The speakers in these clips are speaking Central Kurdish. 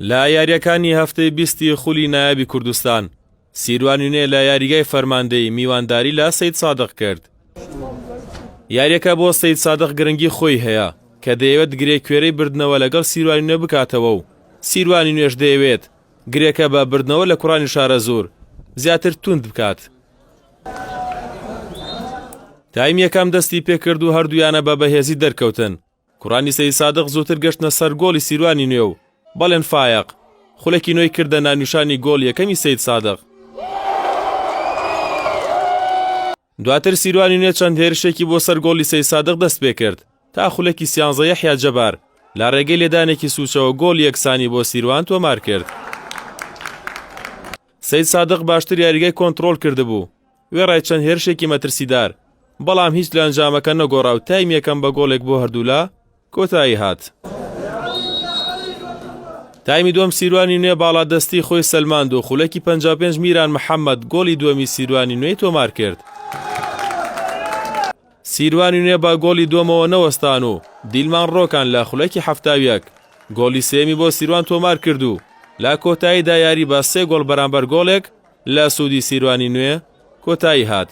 لە یارییەکانی هەفتەی بیستی خولی نایابی کوردستان، سیروان یونێ لە یاریگای فەرماندەیی میوانداری لە سەید سادق کرد. یاریەکە بۆ سەید سادق گرنگی خۆی هەیە کە دەیەوێت گرێ کوێرەی بردنەوە لەگەڵ سیروانی نوێ بکاتەوە و سیروانی نوێش دەیەوێت گرێکە بە بردنەوە لە کوڕانی شارەزوور زیاتر توند بکات. تایم یەکەم دەستی پێکرد و هەردوویانە بە بەهێزی دەرکەوتن کوڕانی سەی سادق زووتر گەشتنە سەر گۆڵی سیروانی نوێ و بەڵێن فایەق خولێکی نوێی کردە نانوشانی گۆڵ یەکەمی سید سادق دواتر سیروانی نوێ چەند هێرشێکی بۆ سەر گۆڵی سەی سادق دەست پێ کرد تا خولێکی سیانزە یەحیا جەبار لە ڕێگەی لێدانێکی سوچەوە گۆڵ یەکسانی بۆ سیروان تۆمار کرد. سەید سادق باشتر یاریگای کۆنتڕۆڵ کردبوو، وێڕای چەند هێرشێکی مەترسیدار، بەڵام هیچ لە ئەنجامەکە نەگۆڕا و تایم یەکەم بە گۆڵێک بۆ هەردوولا کۆتایی هات. تایمی دووەم سیروانی نوێ باڵادەستی خۆی سەلماند و خولەکی 55 میران محەممەد گۆڵی دووەمی سیروانی نوێی تۆمار کرد. سیروانی نوێ بە گۆڵی دووەمەوە نەوەستان و دیلمان ڕۆکان لە خولەکی حەفتا و یەک گۆڵی سێیەمی بۆ سیروان تۆمارکرد و لە کۆتاییدا یاری بە سێ گۆڵ بەرامبەر گۆڵێک لە سوودی سیروانی نوێ کۆتایی هات.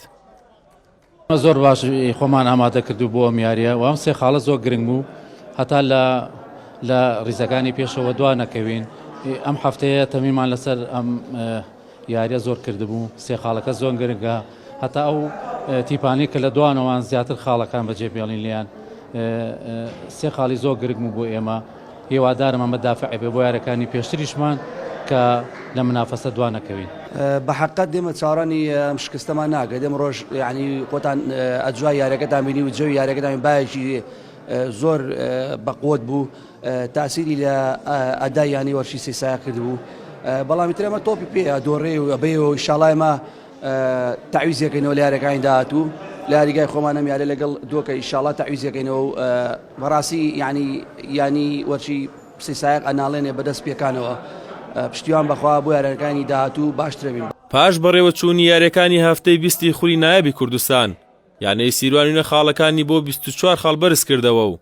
زۆر باش خۆمان ئامادە کرد و بۆ ئەم یاریە و ئەم سێ خاڵە زۆر گرنگ بوو هەتا لە لە ریزەکانی پێشەوە دوا نەکەوین ئەم هەفتەیە تەمیمان لەسەر ئەم یاریە زۆر کردبوو سێ خاڵەکە زۆن گرنگە هەتا ئەو تیپانەی کە لە دوانەوان زیاتر خاڵەکان بەجێ بێڵین لیان سێ خاڵی زۆر گرنگ بوو بۆ ئێمە هێوادارم ئەمە دافعێ بۆ یارەکانی پێشتریشمان کە لە منافەسە دوان نەکەوین بە حقت دێمە چاڕانی ئەم شکستەمان ناکە دێمە ڕۆژ ینی خۆتان ئەجوای یارەکەتان بینی و جەوی یارەکەتان باەکی زۆر بەقوت بوو تاسیری لە ئەدای یانەی وەرشی سێ سایا کردبوو بەڵامی تر ئەمە تۆپی پێ دۆڕێ و ئەبەیەوە ئیشاڵای مە تاویزیەکەینەوە لە یارەکانی داهاتوو لە یاریگای خۆمان ئەم یارە لەگەڵ دۆکە ئیشاڵا تاویزیەکەینەوە و بەڕاستی یعنی ینی وەرچی سێ سایق ئەناڵێنێ بەدەست پێکانەوە پشتیوان بەخوا بۆ یارەکانی داهاتوو باشترەبین پاش بەڕێوەچوونی یاریەکانی هەفتەی بیستی خولی نایابی کوردستان یانەی سیروان وینە خاڵەکانی بۆ بیست و چوار خاڵ بەرز کردەوە و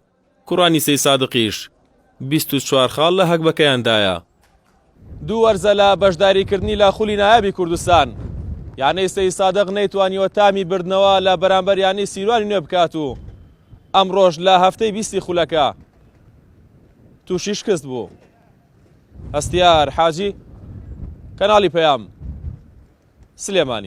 کوڕانی سەی سادقیش بیست و چوار خاڵ لە هەگبەکەیان دایە. دوو وەرزە لە بەشداریکردنی لە خولی نایابی کوردستان، یانەی سەی سادق نەیتوانیوە تامی بردنەوە لە بەرامبەر یانەی سیروانی نوێ بکات و ئەمڕۆش لە هەفتەی بیستی خولەکە تووشی شکست بوو. هەستیار حاجی، کەناڵی پەیام، سلێمانی.